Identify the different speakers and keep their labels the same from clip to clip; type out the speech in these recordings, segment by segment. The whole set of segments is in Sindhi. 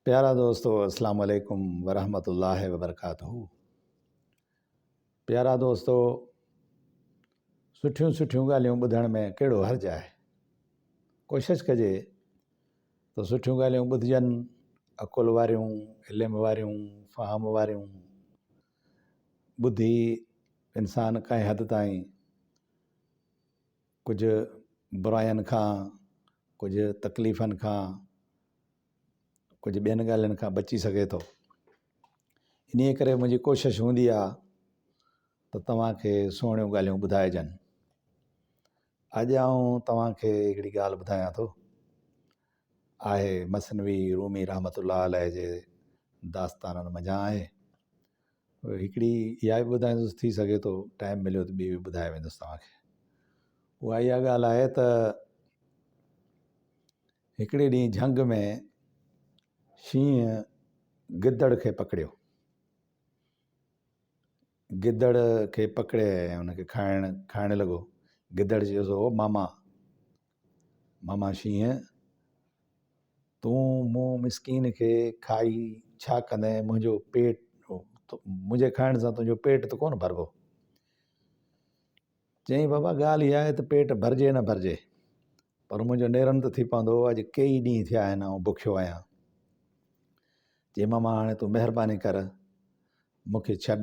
Speaker 1: پيارا دوستو السلام عليڪم ورحمة الله وبرڪاته پيارا دوستو سٺيون سٺيون ڳالهيون ٻڌڻ ۾ ڪهڙو حرج آهي ڪوشش ڪجي ته سٺيون ڳالهيون ٻڌجن عقل واريون علم واريون فهم واريون ٻڌي انسان ڪنهن حد تائين ڪجهه براين کان، ڪجهه تڪليفن کان، ڪجهه ٻين ڳالهين کان بچي سگهي ٿو. انهيء ڪري منهنجي ڪوشش هوندي آ ته توهان کي سهڻيون ڳالهيون ٻڌائجن. اڄ آئون توهان کي هڪڙي ڳالهه ٻڌايان ٿو. آهي مثنوي رومي رحمة الله عليه جي داستانن منجهان آهي. هڪڙي اها به ٻڌائيندس ٿي سگهي ٿو ٽائم مليو ته ٻي به ٻڌائي ويندس توهان کي اها اها ڳالهه آهي ته هڪڙي ڏينهن جهنگ ۾ شينهن گدڙ کي پڪڙيو گدڙ کي پڪڙي ۽ هن کي کائڻ کائڻ لڳو گدڙ چيس هو ماما ماما شينهن! تون مون مسڪين کي کائي ڇا ڪندين؟ منهنجو پيٽ، منهنجي کائڻ سان تنهنجو پيٽ ته ڪونه ڀربو. چيائين بابا ڳالهه اها آهي ته پيٽ ڀرجي نه ڀرجي پر منهنجو نيرن ته ٿي پوندو، اڄ ڪيئي ڏينهن ٿيا آهن آئون بکيو آهيان. چيائين ماما هاڻي تون مهرباني ڪر مون کي ڇڏ،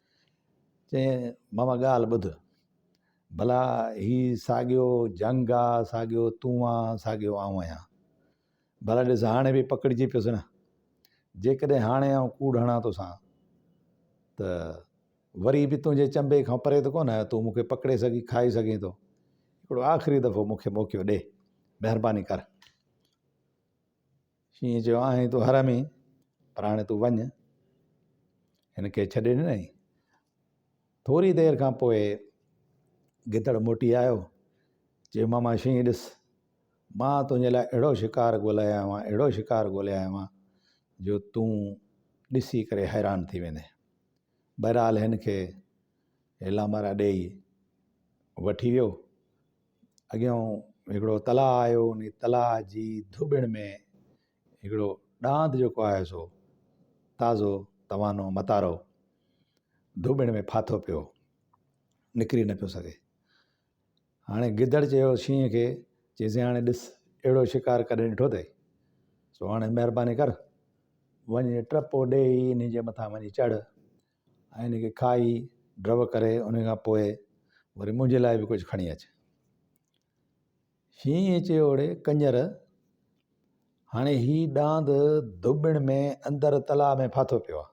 Speaker 1: چيائين، ماما ڳالهه ٻڌ، ڀلا هي ساڳيو جهنگ آ، ساڳيو تون آ، ساڳيو آئون آهيان. ڀلا ڏس هاڻي به پڪڙجي پيس نه. جيڪڏهن هاڻي آئون ڪوڙ هڻان توسان ته وري به تنهنجي چنبي کان پري ته ڪونه آهيان، تون مون کي پڪڙي سگهين، کائي سگهين ٿو. هڪڙو آخري دفعو مون کي موقعو ڏي، مهرباني ڪر. شينهن چيو، آهين تون حرامي، پر هاڻي تون وڃ. هن کي ڇڏي ڏنائين. ٿوري دير کان پوء گدڙ موٽي آيو. چيو، ماما شينهن ڏس، مان تنهنجي لاء اهڙو شڪار ڳولي آيو آهيان، اهڙو شڪار ڳولي آيو آهيان، جو تون ڏسي ڪري حيران ٿي ويندين. بهرحال هن کي هيلا مارا ڏيئي وٺي ويو اڳيئون هڪڙو تلاء آيو ان تلاء جي ڌوٻڻ ۾ هڪڙو ڏاند جيڪو آهي سو تازو توانو متارو ڌوٻڻ ۾ ڦاٿو پيو نڪري نه پيو سگهي هاڻي گدڙ چيو شينهن کي چيسي هاڻي ڏس اهڙو شڪار ڪڏهن ڏٺو اٿئي سو هاڻي مهرباني ڪر وڃي ٽپو ڏيئي ان جي مٿان وڃي چڙهه ۽ ان کي کائي ڊرو ڪري ان کان پوء وري منهنجي لاء به ڪجهه کڻي اچ. شينهن چيو اڙي ڪنجر هاڻي هي ڏاند ڌوٻڻ ۾ اندر تلاء ۾ ڦاٿو پيو آ.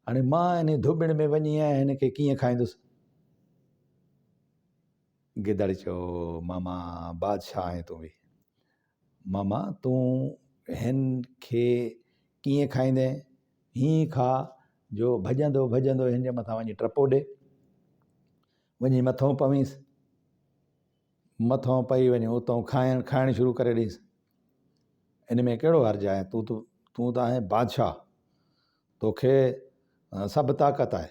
Speaker 1: هاڻي مان ان ڌوٻڻ ۾ وڃي ۽ هن کي ڪيئن کائيندس؟ گدڙ چيو ماما بادشاهه آهين تون به ماما تون هن کي ڪيئن کائيندين؟ هيئن کاء جو ڀڄندو ڀڄندو هن جي مٿان وڃي ٽپو ڏي. وڃي مٿو پوينس. مٿو پئي وڃي اتو کائڻ کائڻ شروع ڪري ڏينس. ان ۾ ڪهڙو حرج آهي تون ته تون ته آهين بادشاهه توکي سڀ طاقت آهي.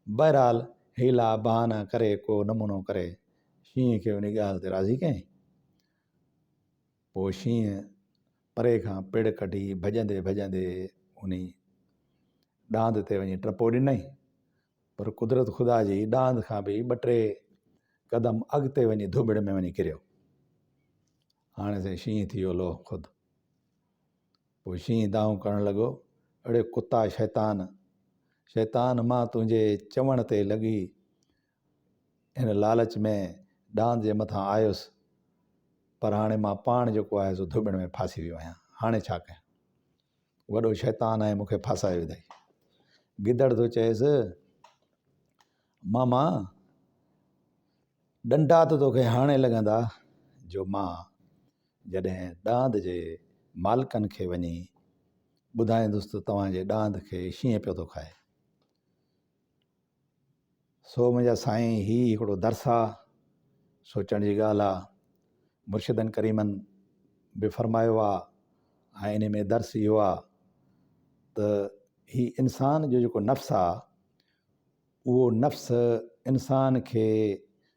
Speaker 1: بهرحال هيلا بهانه ڪري ڪو نمونو ڪري شينهن کي انهي ڳالهه تي راضي ڪيائين. پوء شينهن پري کان پڙ ڪڍي ڀڄندي ڀڄندي انهي ڏاند تي وڃي ٽپو ڏنائين. پر قدرت خدا جي ڏاند کان به ٻه ٽي قدم اڳتي وڃي ڌوٻڙ ۾ وڃي ڪريو. هاڻي سائين شينهن ٿي ويو لوهه خود. پوء شينهن دانهون ڪرڻ لڳو، اڙي ڪتا شيطان! شيطان مان تنهنجي چوڻ تي لڳي ان لالچ ۾ ڏاند جي مٿان آيس، پر هاڻي مان پاڻ جيڪو آهي سو ڌوٻڻ ۾ ڦاسي ويو آهيان، هاڻي ڇا ڪيان؟ وڏو شيطان آهي، مون کي ڦاسائي وڌئي. گدڙ ٿو چئيس، ماما! ڏنڊا ته توکي هاڻي لڳندا، جو مان جڏهن ڏاند جي مالڪن کي وڃي ٻڌائيندس ته توهان جي ڏاند کي شينهن پيو ٿو کائي. سو منهنجا سائين هي هڪڙو درس آ، سوچڻ جي ڳالهه آ. مرشدن ڪريمن به فرمايو آ ۽ انهي ۾ درس اهو آ ته هي انسان جو جيڪو نفس آ اهو نفس انسان کي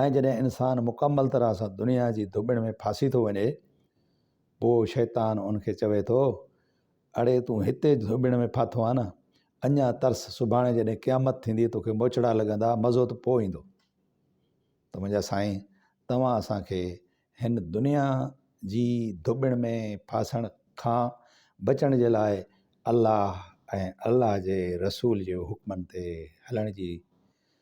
Speaker 1: ۽ جڏهن انسان مڪمل طرح سان دنيا جي ڌوٻڻ ۾ ڦاسي ٿو وڃي، پوء شيطان ان کي چوي ٿو، اڙي تون هتي ڌوٻڻ ۾ ڦاٿو آهين نه، اڃا ترس، سڀاڻي جڏهن قيامت ٿيندي، توکي موچڙا لڳندا، مزو ته پوء ايندو. ته منهنجا سائين، توهان اسان کي هن دنيا جي ڌوٻڻ ۾ ڦاسڻ کان بچڻ جي لاء الله ۽ الله جي رسول جي حڪمن تي هلڻ جي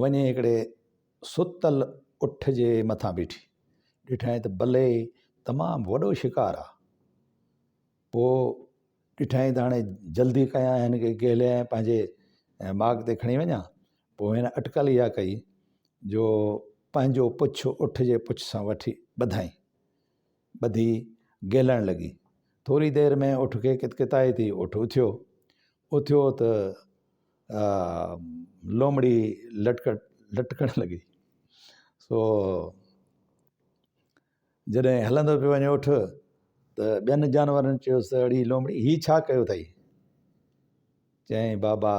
Speaker 1: وڃي هڪڙي ستل اٺ جي مٿان بيٺي. ڏٺائين ته بلي تمام وڏو شڪار آ. پوء ڏٺائين ته هاڻي جلدي ڪيان هن کي ڪهليان ۽ پنهنجي ماڳ تي کڻي وڃان. پوء هن اٽڪل اها ڪئي جو پنهنجو پڇ اٺ جي پڇ سان وٺي ٻڌائين. ٻڌي گهلڻ لڳي. ٿوري دير ۾ اٺ کي ڪتڪتائي ٿي. اٺ اٿيو. اٿيو ته لومڙي لٽڪڻ لڳي سو جڏهن هلندو پيو وڃي اٺ ته ٻين جانورن چيوسي ته اڙي لومڙي هي ڇا ڪيو اٿئي چيائين بابا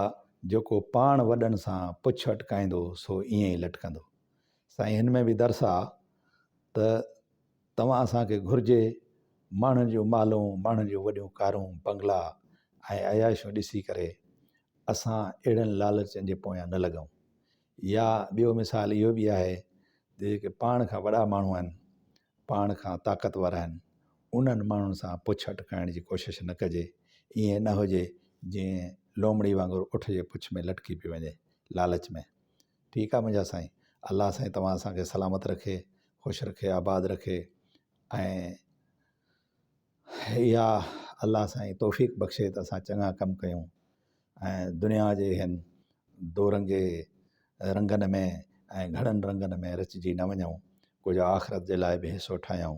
Speaker 1: جيڪو پاڻ وڏن سان پڇ اٽڪائيندو سو ائين ئي لٽڪندو سائين هن ۾ به درس آهي ته توهان اسان کي گهرجي، ماڻهن جون مالون، ماڻهن جون وڏيون ڪارون، بنگلا ۽ عياشيون ڏسي ڪري اسان اهڙن لالچن جي پويان نه لڳون. يا ٻيو مثال اهو به آهي ته جيڪي پاڻ کان وڏا ماڻهو آهن، پاڻ کان طاقتور آهن، انهن ماڻهن سان پڇ اٽڪائڻ جي ڪوشش نه ڪجي، ائين نه هجي جيئن لومڙي وانگر اٺ جي پڇ ۾ لٽڪي پئي وڃي، لالچ ۾. ٺيڪ آ منهنجا سائين الله سائين توهان اسان کي سلامت رکي خوش رکي آباد رکي ۽ اها الله سائين توفيق بخشي ته اسان چڱا ڪم ڪيون ۽ دنيا جي هن دورنگي رنگن ۾ ۽ گهڻن رنگن ۾ رچجي نه وڃون ڪجهه آخرت جي لاء به حصو ٺاهيون